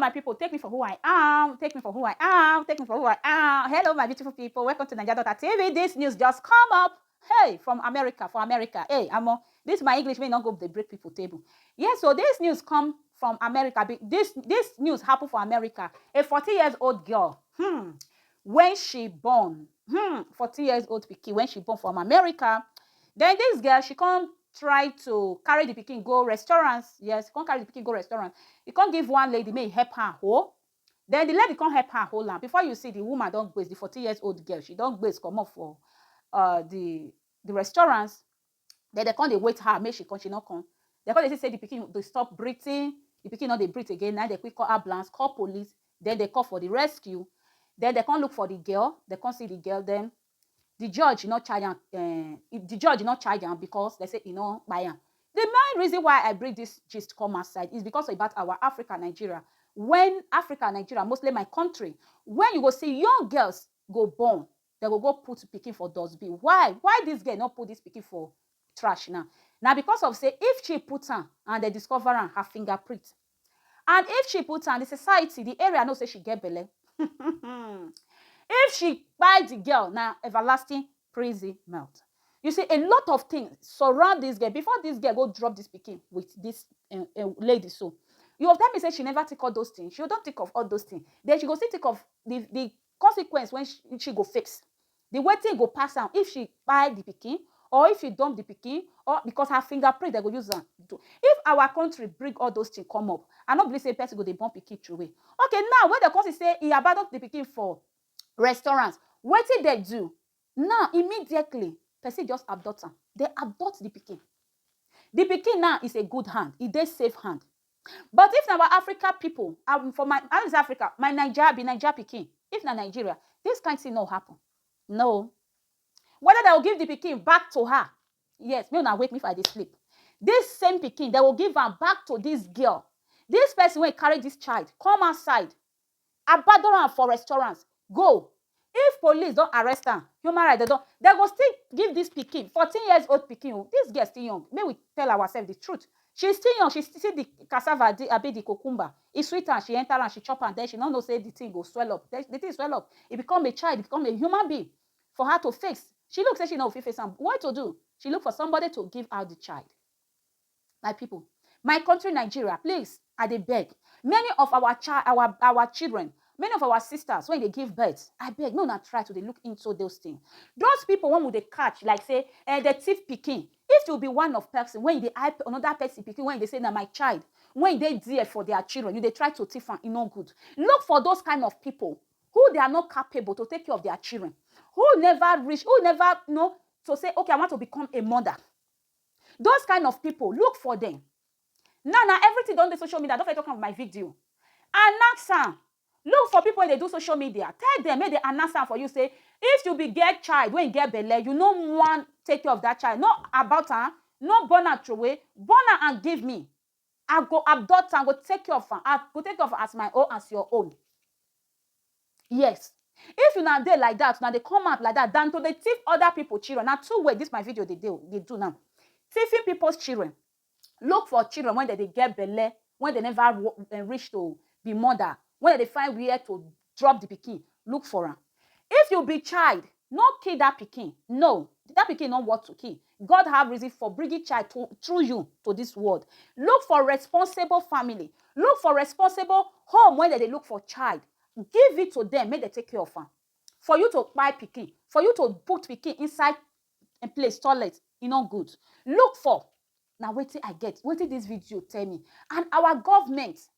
my people, take me for who I am, take me for who I am, take me for who I am. Hello, my beautiful people. Welcome to Niger Daughter TV. This news just come up. Hey, from America, for America. Hey, I'm on. This my English may not go the break people table. Yes, yeah, so this news come from America. This this news happened for America. A 40 years old girl. Hmm. when she born hmm fourteen years old pikin when she born from america then this girl she come try to carry the pikin go restaurant yes come carry the pikin go restaurant e come give one lady make e help her hold then the lady come help her hold am before you see the woman don gbaze the fourteen years old girl she don gbaze comot for uh, the the restaurant Then dem come dey wait her make she come, she no come. Dem come dey see say the pikin dey stop breathing, the pikin no dey breathe again. Na im dem quick call ambulance, call police, then dem call for the rescue. Then dem come look for the girl, dem come see the girl. Then the judge no charge am, um the judge no charge am because dem say e no kpai am. The main reason why I bring this gist come outside is because about our Africa, Nigeria, when Africa, Nigeria, mostly my country, when you go see young girls go born, dem go go put pikin for dustbin why why this girl no put this pikin for trash now na because of say if she put am and dem discover am her finger print and if she put am the society the area know say she get belle if she kpai the girl na everlasting prison mouth you see a lot of things surround this girl before this girl go drop this pikin with this uh, uh, lady so you go tell me say she never think all those things she don think of all those things then she go still think of the the consequence wey she go face, the wetin go pass am if she kpai the pikin or if she dump the pikin or because her finger print dem go use am do. If our country bring all those things come up, I no believe sey person go dey born pikin throwey. Okay now wey dem con see sey e abandon the pikin for restaurant, wetin dem do? Now, immediately, pesin just abduct am. Dem abduct di pikin. Di pikin now is a good hand, e dey safe hand. But if na our Africa pipo, um for my, I no dey say Africa, my Naija, I be Naija pikin, if na Nigeria, dis kain tin no happun. No. Weda dem go give di pikin back to her, yes, make una wake me if I dey sleep, dis same pikin, dem go give am back to dis girl, dis pesin wey carry dis child come outside, abadon am for restaurant go if police don arrest am human right dem don dem go still give dis pikin fourteen years old pikin o dis girl still young make we tell ourselves di truth she still young she see di cassava di abi di cucumber e sweet am she enter am she chop am den she no know sey di thing go swell up den di thing swell up e become a child e become a human being for her to face she look sey she no go fit face am what to do she look for somebody to give her di child My pipu, my country Nigeria, please I dey beg, many of our child, our our children, many of our sisters wey dey give birth, abeg make una try to dey look into those thing. Those pipu wey we dey catch like sey um dem thief pikin, if you be one of person wey you dey eye another person pikin wey you dey sey na my child, wey you dey there for their children, you dey try to thief am, e no good. Look for those kind of pipu who they are not capable to take care of their children, who never reach, who never know to sey okay I want to become a mother. Those kind of people look for them now na everything don dey social media I don first talk am for my video announce am look for people wey dey do social media tell them make they announce am for you say if you be get child wey get belle you no wan take care of that child no abort am no born am throway born am and give me I go abduct am, go take care of am, I go take care of am as my own, as your own. Yes. If una dey like dat, una dey come out like dat than to dey thief other people children, na two way dis my video dey dey dey do now. Thiefing people's children, look for children wey dem dey get belle, wey dem never reach to be mother, wey dem dey find where to Drop the pikin, look for am. If you be child, no kill that pikin, no, that pikin no worth to kill. God have reason for bringing child to, through you to this world. Look for responsible family. Look for responsible home when they look for child. Give it to them, make they take care of am. For you to buy pikin, for you to put pikin inside a place, toilet, e no good. Look for na wetin i get wetin dis video tell me and our government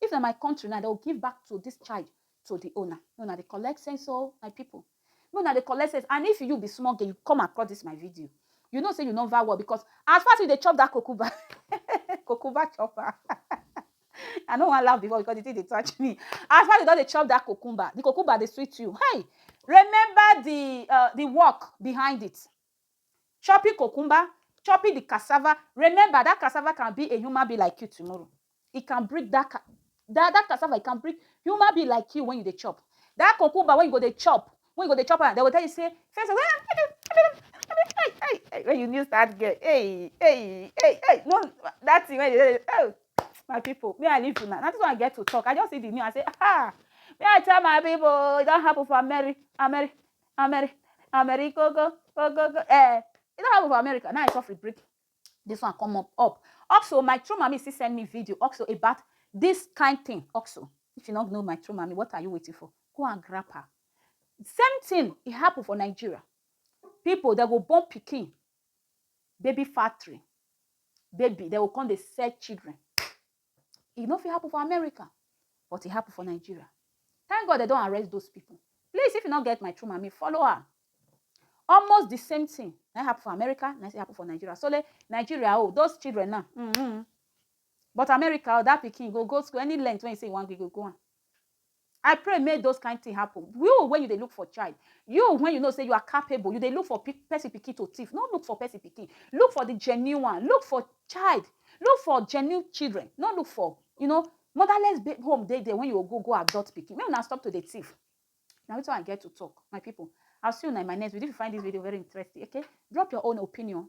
If na my country now, dem go give back to this child to the owner. Make una dey collect sense o, my people. Make una dey collect sense. And if you be small girl, you come across this my video, you know say you nova work because as far as you dey chop that kokuba, kokuba chopper, I no wan laugh before because the thing dey touch me. As far as you don dey chop that kokumba, the kokumba dey sweet you. Hey, remember the uh, the work behind it. Chopping cucumber, chopping the cassava, remember that cassava can be a human being like you tomorrow. It can breed that ca- that, that cassava, it can breed human being like you when you dey chop. That cucumber when you go dey chop, when you go dey chop am, they go tell you say, first, when you new start girl, hey, hey, hey, hey, no, that thing when you dey, oh, my people, me I leave una. Now this one I get to talk. I just see the new, I say, ah, me I tell my people, it don happen for Ameri, Ameri, Ameri America go go go go eh e don happen for America now I suffer break this one come up up also my true mommy still send me video also about this kind thing also if you don't know my true mommy what are you waiting for go and grab her same thing e happen for Nigeria people they go born pikin baby factory baby they go come dey sell children e no fit happen for america but e happen for nigeria thank god dem don arrest those people please if you no get my true mami follow her almost the same thing na happen for america na happen for nigeria so le nigeria oh those children now mm -hmm. but america oh that pikin go go school any length when you say you wan go go am I pray make those kind thing happen. You when you dey look for child, you when you know say you are capable, you dey look for pe- person pikin to thief. No look for person pikin. Look for the genuine one. Look for child. Look for genuine children. No look for you know motherless ba- home dey there when you go go go adult pikin. Make una stop to dey thief. Now it's all I get to talk, my people. I'll see you now in my next video. If you find this video very interesting, okay, drop your own opinion.